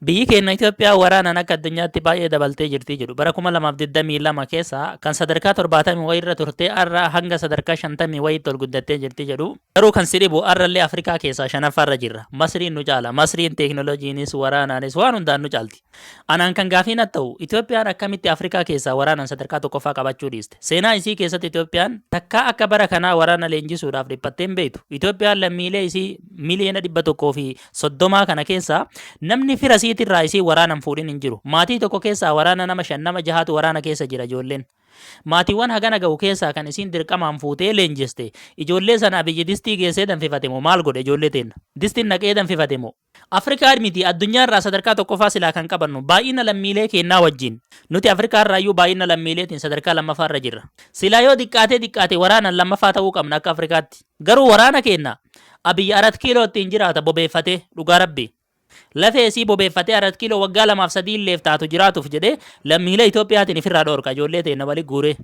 Biyyi keenya Itoophiyaa waraanaan akka addunyaatti baay'ee dabaltee jirti jedhu. Bara 2022 keessa kan sadarkaa 70 wayii irra turtee har'a hanga sadarkaa 50 wayiitti ol guddattee jirti jedhu. Garuu kan si dhibu har'allee Afrikaa keessaa shanaffaa irra jirra. Masriin nu caala. Masriin teeknolojiinis waraanaanis waan hundaan nu caalti. Anaan kan gaafii natti ta'u Itoophiyaan akkamitti Afrikaa keessaa waraanaan sadarkaa tokkoffaa qabachuu dhiiste. Seenaa isii keessatti Itoophiyaan takkaa akka bara kanaa waraana leenjisuudhaaf dhiphattee hin beektu. Itoophiyaan lammiilee isii miliyoona 100 fi soddomaa kana keessa namni fira isiitirraa isii waraanan fuudhin hin jiru. Maatii tokko keessaa waraana nama shan nama jahaatu waraana keessa jira ijoolleen. Maatiiwwan hagana ga'u keessaa kan isiin dirqamaan fuutee leenjiste ijoollee sana abiyyi distii geessee danfifate moo maal godhe ijoollee teenna? Distiin naqee danfifate moo? Afrikaa miti addunyaarraa sadarkaa tokkoffaa silaa kan qabannu baay'ina lammiilee keennaa wajjin. Nuti Afrikaarraayyuu baay'ina lammiileetiin sadarkaa lammaffaarra jirra. Silaa yoo diqqaatee diqqaate waraanan lammaffaa ta'uu qabna akka Afrikaatti. Garuu waraana keenna Abiy Arat Kiiloo ittiin jiraata bobeeffatee dhugaa rabbii. Lafee isii bobeeffatee Arat Kiiloo waggaa lamaaf sadii illeef taatu jiraatuuf jedhee lammiilee Itoophiyaatiin ifirraa dhoorka ijoollee teenna wali guuree.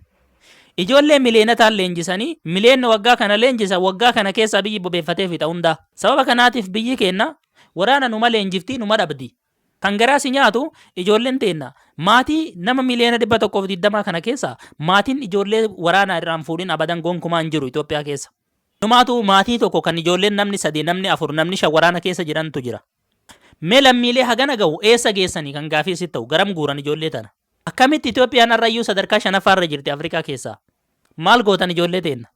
Ijoollee miliyeenataan leenjisanii miliyeenna waggaa kana leenjisan waggaa kana keessa Abiy bobeeffatee fixa hundaa. Sababa kanaatiif biyyi keenna waraana numa leenjiftii numa dhabdii. Kan garaa si nyaatu ijoolleen teenna maatii nama miliyoona 120 kana keessa maatiin ijoollee waraanaa irraan fuudhin abadan gonkumaa hin jiru Itoophiyaa keessa. Inumaatu maatii tokko kan ijoolleen namni sadii, namni afur, namni shan waraana keessa jirantu jira. Mee lammiilee hagana gahu eessa geessanii kan gaafii si ta'u garam guuran ijoollee tana? Akkamitti Itoophiyaan har'a iyyuu sadarkaa shanaffaa irra jirti Afrikaa keessaa? Maal gootan ijoollee teenna?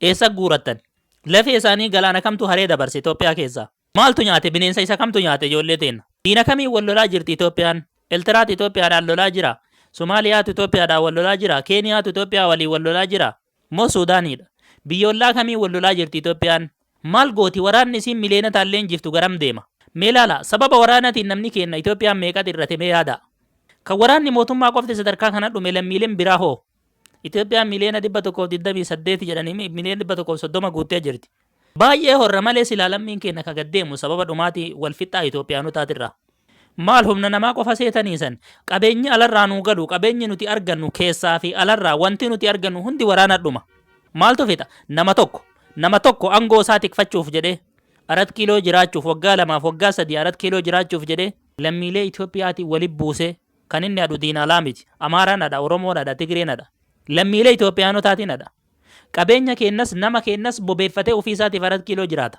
Eessa guurattan? Lafee isaanii galaana kamtu haree dabarse Itoophiyaa keessaa? Maaltu nyaate? Bineensa isa kamtu nyaate ijoollee teenna? Diina kamiin wal lolaa jirti Itoophiyaan? Eltiraatu Itoophiyaadhaan lolaa jira? Somaaliyaatu Itoophiyaadhaan wal lolaa jira? Keeniyaatu Itoophiyaa waliin wal lolaa jira? Moo Suudaaniidha? Biyya ollaa kamiin wal lolaa jirti Itoophiyaan? Maal gooti? Waraanni isiin miliyoonotaan leenjiftu garam deema? Mee ilaalaa, sababa waraanatiin namni keenna Itoophiyaan meeqa xirrate mee yaadaa. Kan waraanni mootummaa qofti sadarkaa kana dhume lammiileen biraa hoo? Itoophiyaan miliyoona 128 jedhanii miliyoona 130 guuttee jirti. Baay'ee horra malee silaa lammiin keenya ka gad deemu sababa dhumaatii wal fixxaa Itoophiyaanotaatirraa. Maal humna namaa qofa seetanii san? Qabeenyi alarraa nuu galu, qabeenyi nuti argannu keessaa fi alarraa wanti nuti argannu hundi waraana dhuma. Maaltu fixa? Nama tokko. Nama tokko angoo isaa tikfachuuf jedhee arat kiiloo jiraachuuf waggaa lamaaf waggaa sadii arat kiiloo jiraachuuf jedhee lammiilee Itoophiyaatiin wali buusee Kan inni hadhu diina alaa miti. Amaaraan hadha, Oromoon hadha, Tigreen hadha. Lammiilee Itoophiyaanotaatiin hadha. Qabeenya keenyas, nama keenyas bobeeffatee ofii isaatiif arat kiiloo jiraata.